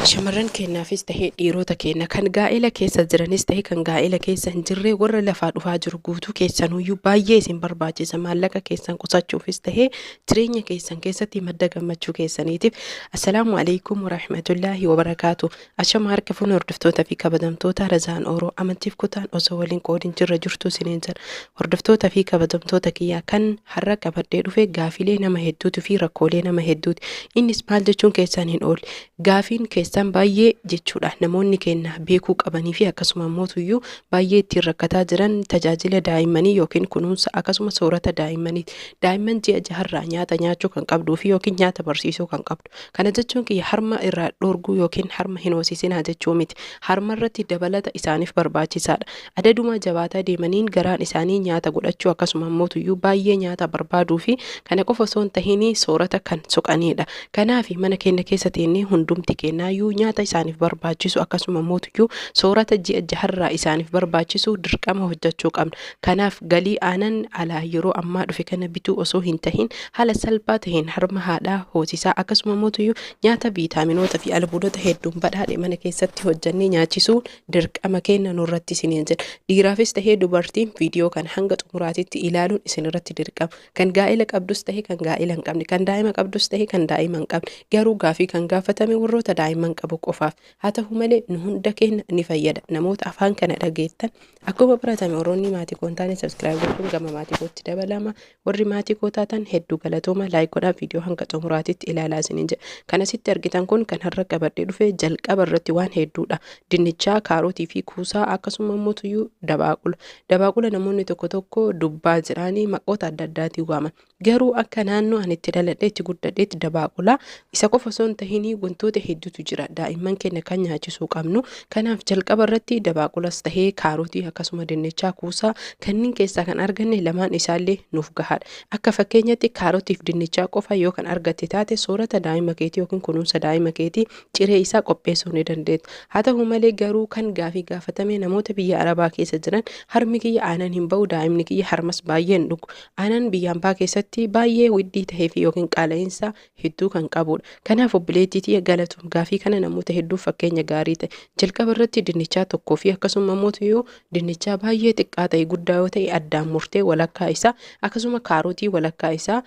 Shamarran keenyaafis ta'ee dhiiroota keenya kan gaa'ela keessa jiranis ta'ee kan gaa'ela keessa hin jirree warra lafaa dhufaa jiru guutuu keessanuyyuu baay'ee isin barbaachisa maallaqa keessan qusachuufis ta'ee jireenya keessan keessatti madda gammachuu keessaniitiif assalaamu alaikum warahmatullaahi wabarakaatu ashama harka fuun hordoftoota fi kabajamtoota razaan ooroo amantiif kutaan osoo waliin qoodin jirra jirtu isiniin jedha Hordoftoota fi kabajamtoota kiyya kan har'a qabadhee dhufe gaafiilee nama hedduutu fi rakkoolee nama hedduuti. Innis maal jechuun keessan hin oole. Gaafiin keessan baay'ee jechuudha namoonni keenna beekuu qabanii fi akkasuma ammootuyyuu baay'ee ittiin rakkataa jiran tajaajila daa'immanii yookiin kunuunsa akkasuma soorata daa'immaniiti. Daa'imman ji'a jaharraa nyaata nyaachuu kan qabduu fi yookiin nyaata barsiisuu kan qabdu. qabadhu. Kana jechuun kiyya harma irraa dhoorguu ykn harma hin hoosisinaa jechuu miti. Harma irratti dabalata isaaniif barbaachisaadha. Adaduma jabaataa deemaniin garaan isaanii nyaata godhachuu akkasuma mootuyyuu baay'ee nyaata barbaaduu fi kana qofa osoo hin tahiin soorata kan soqaniidha. Kanaafi mana keenna keessa teennee hundumti keennaayyuu nyaata isaaniif barbaachisu akkasuma mootuyyuu soorata ji'a jaharraa isaaniif barbaachisu dirqama hojjachuu qabna. Kanaaf galii aanan alaa yeroo ammaa dhufe kana bituu osoo hin tahin haala salphaa taheen harma haadhaa hoosisaa akkasuma mootuyyuu nyaata viitaaminoota fi albuudota hedduun badhaadhe mana keessatti hojjannee nyaachisuun dirqama keenna nurratti isiniin jedha. Dhiiraafis tahee dubartiin viidiyoo kana hanga xumuraatitti ilaaluun isinirratti dirqama. Kan gaa'ela qabdus tahe kan gaa'ela hin qabne, kan daa'ima qabdus tahe kan daa'ima hin qabne. Garuu gaafii kan gaafatame warroota daa'imman qabu qofaaf. Haa tahu malee nu hunda keenya ni fayyada. Namoota afaan kana dhageettan akkuma baratame warroonni maatii koo hin taane subscribe gochuun gama maatii kootti dabalama. Warri maatii koo taatan hedduu galatooma like godhaa viidiyoo hanga xumuraatitti ilaalaa isiniin jedha. Kan asitti argitan kun kan har'a qabadhee dhufe jalqaba irratti waan hedduudha. Dinnichaa, kaarotii fi kuusaa akkasuma immoo tuyyuu dabaaqula. Dabaaqula namoonni tokko tokko dubbaa jedhaanii maqoota adda addaatiin waaman. Garuu akka naannoo ani itti dhaladhee itti guddadheetti dabaaqula isa qofa osoo hin tahinii wantoota hedduutu jira daa'imman keenya kan nyaachisuu qabnu. Kanaaf jalqaba irratti dabaaqulas tahee kaarotii akkasuma dinnichaa kuusaa kanniin keessaa kan arganne lamaan isaallee nuuf gahaadha. Akka fakkeenyatti kaarotiif dinnichaa qofa yoo kan argatte taate soorata daa'ima keetii yookiin kunuunsa daa'ima keetii ciree isaa qopheessuu ni dandeetta. Haa tahu malee garuu kan gaafii gaafatame namoota biyya Arabaa keessa jiran harmi kiyya aanan hin bahu daa'imni kiyya harmas baay'ee hin dhugu. Aanan biyya ambaa keessatti baay'ee widdii tahee fi yookiin qaala'insa hedduu kan qabuudha. Kanaaf obboleettii tiyya galatoom gaafii kana namoota hedduuf fakkeenya gaarii ta'i. Jalqaba irratti dinnichaa tokkoo fi akkasuma immoo tuyuu dinnichaa baay'ee xiqqaa ta'e guddaa yoo ta'e addaan murtee walakkaa isaa akkasuma kaarotii walakkaa isaa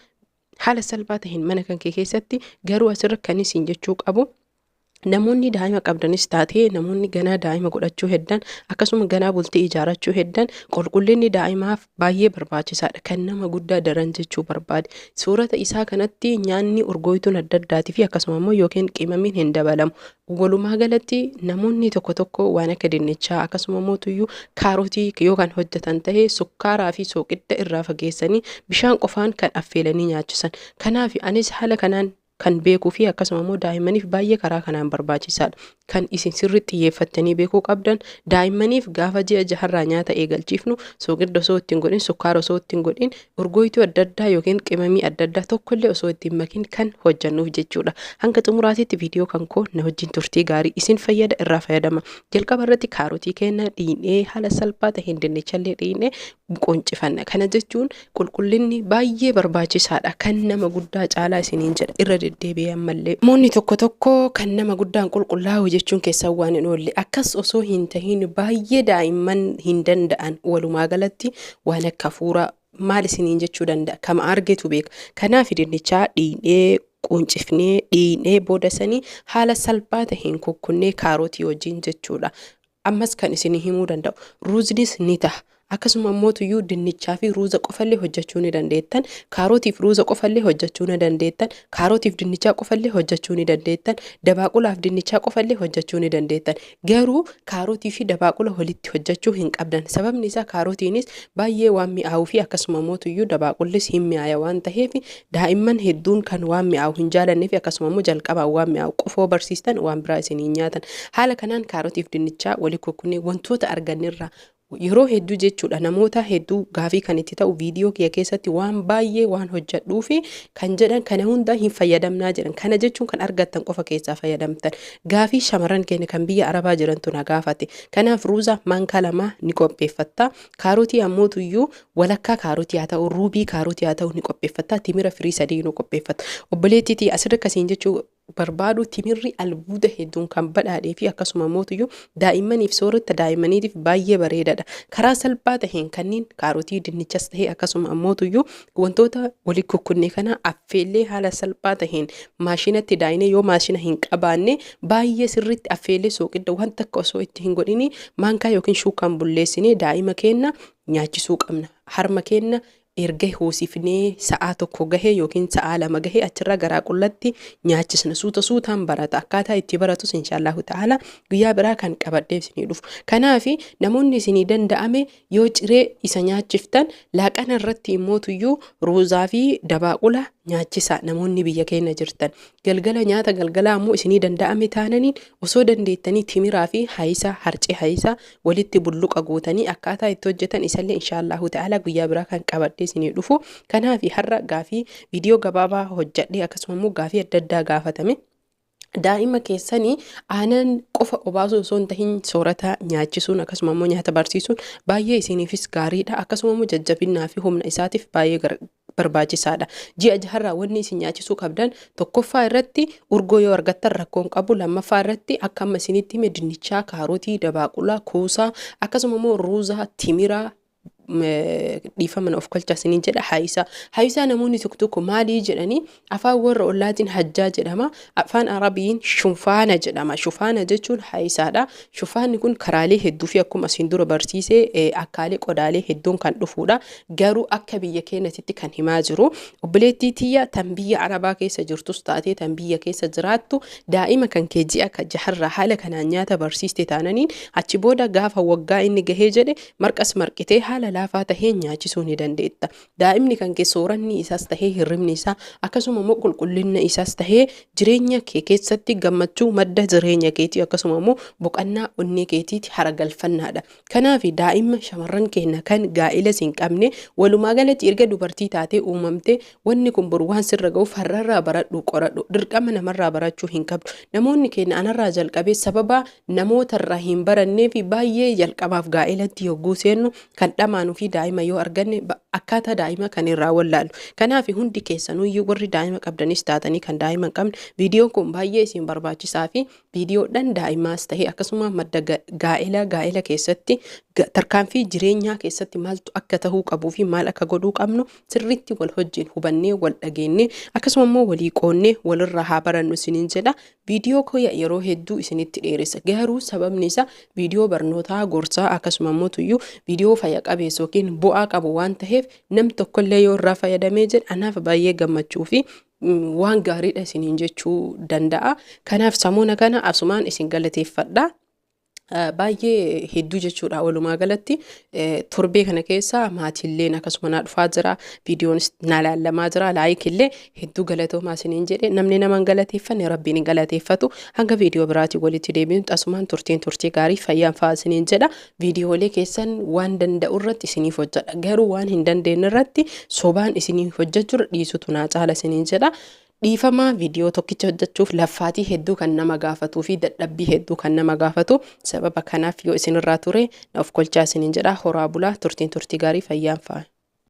haala salphaa ta'een mana kan kee keessatti garuu asirra kan isin jechuu qabu Namoonni daa'ima qabdanis taatee namoonni ganaa daa'ima godhachuu heddan akkasuma ganaa bultii ijaarachuu heddan qulqullinni daa'imaaf baay'ee barbaachisaadha. Kan nama guddaa daran jechuu barbaade. Suurata isaa kanatti nyaanni urgooytuun adda addaatii fi akkasuma immoo yookiin qimamiin hin dabalamu. Walumaa galatti namoonni tokko tokko waan akka dinnichaa akkasuma immoo tuyyuu kaarotii yoo kan hojjetan ta'e sukkaaraa fi sooqidda irraa fageessanii bishaan qofaan kan affeelanii nyaachisan. Kanaaf anis haala kanaan kan beekuu fi akkasuma immoo daa'immaniif baay'ee karaa kanaan barbaachisaadha. Kan isin sirriitti xiyyeeffattanii beekuu qabdan daa'immaniif gaafa ji'a jaharraa nyaata eegalchiifnu sooqidda osoo ittiin godhin sukkaara osoo ittiin godhin urgooytuu adda addaa yookiin qimamii adda addaa tokkollee osoo ittiin makin kan hojjannuuf jechuudha. Hanga xumuraatiitti viidiyoo kan koo na wajjin turtii gaarii isin fayyada irraa fayyadama. Jalqaba irratti kaarotii keenya dhiinee haala salphaa ta'een dinnichallee dhiinee qoncifanna. Kana jechuun qulqullinni baay'ee barbaachisaadha. Kan nama guddaa caalaa isiniin jedha irra deddeebi'ee ammallee. Namoonni tokko tokko kan nama guddaan qulqullaa'u jechuun keessan waan hin oolle. Akkas osoo hin tahin baay'ee daa'imman hin danda'an walumaa galatti waan akka hafuuraa maal isiniin jechuu danda'a kama argetu beeka. Kanaaf dinnichaa dhiinee quncifnee dhiinee booda sanii haala salphaa taheen kukkunnee kaarotii wajjin jechuudha. Ammas kan isinii himuu danda'u ruuznis ni taha. Akkasuma immoo tuyyuu dinnichaa fi ruuza qofallee hojjachuu ni dandeettan. Kaarotiif ruuza qofallee hojjachuu ni dandeettan. Kaarotiif dinnichaa qofallee hojjachuu ni dandeettan. Dabaaqulaaf dinnichaa qofallee hojjachuu ni dandeettan. Garuu kaarotii fi dabaaqula walitti hojjachuu hin qabdan. Sababni isaa kaarotiinis baay'ee waan mi'aawuu fi akkasuma immoo tuyyuu dabaaqullis hin mi'aaya waan taheef Daa'imman hedduun kan waan mi'aawu hin jaalanne fi akkasuma immoo jalqabaan waan mi'aawu qofoo barsiistan waan biraa isin hin nyaatan. Haala kanaan kaarotiif dinnichaa wali kukkunnee wantoota argannerraa yeroo hedduu jechuudha namoota hedduu gaafii kan itti ta'u viidiyoo kiyya keessatti waan baay'ee waan hojjedhuu fi kan jedhan kana hundaa hin fayyadamnaa jedhan kana jechuun kan argattan qofa keessaa fayyadamtan gaafii shamarran keenya kan biyya arabaa jirantu na gaafate kanaaf ruuza maankaa lamaa ni qopheeffatta Kaarotii ammootu iyyuu walakkaa kaarotii haa ta'u, ruubii kaarotii haa ta'u ni qopheeffatta. Timira firii sadii nu qopheeffatta. Obboleettii tiyya asirra akkasiin jechuu barbaadu timirri albuuda hedduun kan badhaadhee fi akkasuma ammootu iyyuu daa'immaniif soorata daa'immaniitiif baay'ee bareedaadha. Karaa salphaa ta'een kanneen kaarotii dinnichas ta'e akkasuma ammootu iyyuu Wantoota wali kukkunne kana affeellee haala salphaa taheen maashinatti daayinee yoo maashina hin qabaanne baay'ee sirriitti affeellee sooqidda waan takka osoo itti hin godhini maankaa yookiin shuukaan bulleessinee daa'ima keenna nyaachisuu qabna. Harma keenna erga hoosifnee sa'aa tokko gahee yookiin sa'aa lama gahee achirraa garaa qullatti nyaachisna suuta suutaan barata akkaataa itti baratus inshaallahu ta'ala guyyaa biraa kan qabadhee isinii dhufu kanaafi namoonni isinii danda'ame Yoo ciree isa nyaachiftan laaqana irratti immootuyyuu ruuzaa fi dabaaqula nyaachisaa namoonni biyya keenya jirtan. Galgala nyaata galgalaa ammoo isinii danda'ame taananiin osoo dandeettanii timiraa fi hayisaa harcee hayisaa walitti bulluqa gootanii akkaataa itti hojjetan isallee inshaallahu ta'ala guyyaa biraa kan qabadhee isinii dhufu. Kanaafi har'a gaafii viidiyoo gabaabaa hojjedhee akkasuma immoo gaafii adda addaa gaafatame. Daa'ima keessani aanan qofa obaasuu osoo hin tahin soorata nyaachisuun akkasuma immoo nyaata barsiisuun baay'ee isiiniifis gaariidha. Akkasuma immoo jajjabinnaa fi humna isaatiif baay'ee gar- barbaachisaadha. Ji'a jaharraa wanni isin nyaachisuu qabdan tokkoffaa irratti urgoo yoo argattan rakkoo hin qabu. Lammaffaa irratti akka amma isinitti hime dinnichaa, kaarotii, dabaaqulaa, kuusaa akkasuma immoo ruuzaa, timiraa, dhiifama na of kolchaa isiniin jedha haayisaa haayisaa namoonni tokko tokko maalii jedhanii afaan warra ollaatiin hajjaa jedhama afaan arabiin shufaana jedhama shufaana jechuun haayisaadha shufaanni kun karaalee hedduu fi akkuma asiin dura barsiisee eh, akkaalee qodaalee hedduun kan dhufuudha garuu akka biyya keenyatitti kan himaa jiru obboleettii tiyya tan biyya arabaa keessa jirtus taatee tan biyya keessa jiraattu daa'ima kan kee ji'a ka jaharraa haala kanaan nyaata barsiiste taananiin achi booda gaafa waggaa inni gahee jedhe Marqas marqitee haala laafaa taheen nyaachisuu ni dandeetta. Daa'imni kan kee sooranni isaas tahee hirribni isaa akkasuma immoo qulqullinna isaas tahee jireenya kee keessatti gammachuu madda jireenya keetii akkasuma immoo boqannaa onnee keetiiti haragalfannaadha. Kanaafi daa'imma shamarran keenna kan gaa'elas hin qabne walumaa galatti erga dubartii taatee uumamtee Wanni kun boru waan sirra ga'uuf har'arraa baradhuu qoradhu. Dirqama namarraa barachuu hin qabdu. Namoonni keenya anarraa jalqabee sababa namootarraa hin baranneef baay'ee jalqabaaf gaa'elatti yogguu seennu kan dhamaanu fi daa'ima yoo arganne akkaataa daa'ima kan irraa wallaallu. Kanaaf hundi keessanuyyuu warri daa'ima qabdanis taatanii kan daa'ima hin qabne viidiyoon kun baay'ee isin barbaachisaa fi viidiyoodhaan daa'imaas ta'e akkasuma madda gaa'ela gaa'ela keessatti tarkaanfii jireenyaa keessatti maaltu akka ta'uu qabuu fi maal akka godhuu qabnu sirriitti wal hojjiin hubannee wal dhageennee akkasuma immoo walii qoonnee walirraa haa barannu isiniin jedha viidiyoo koya yeroo hedduu isinitti dheeressa garuu sababni isaa viidiyoo barnootaa gorsaa akkasuma immoo tuyyuu viidiyoo fayya qabeessa yookiin bu'aa qabu waan ta'eef nam tokkollee yoo irraa fayyadamee jedhe anaaf baay'ee gammachuu fi waan gaariidha isiniin jechuu danda'a kanaaf samuuna kana asumaan isin galateeffadha. Baay'ee hedduu jechuudha walumaa galatti torbee kana keessa maatiilleen akkasuma naa dhufaa jira viidiyoonis naa laallamaa jira laayikillee hedduu galatoomaa isiniin jedhe namni nama hin galateeffanne rabbiin hin galateeffatu hanga viidiyoo biraatii walitti deebiin asumaan turtiin turtii gaarii fayyaan fa'aa isiniin jedha viidiyoolee keessan waan danda'u irratti isiniif hojjedha garuu waan hin dandeenye irratti sobaan isiniif hojjechuudha dhiisutu naa caala isiniin jedha Dhiifama video tokkicha hojjachuuf laffaatii hedduu kan nama gaafatuu fi dadhabbii hedduu kan nama gaafatu sababa kanaaf yoo isinirraa ture na ofkolchaa isiniin jedha horaa bulaa turtiin turtii gaarii fayyaan faaya.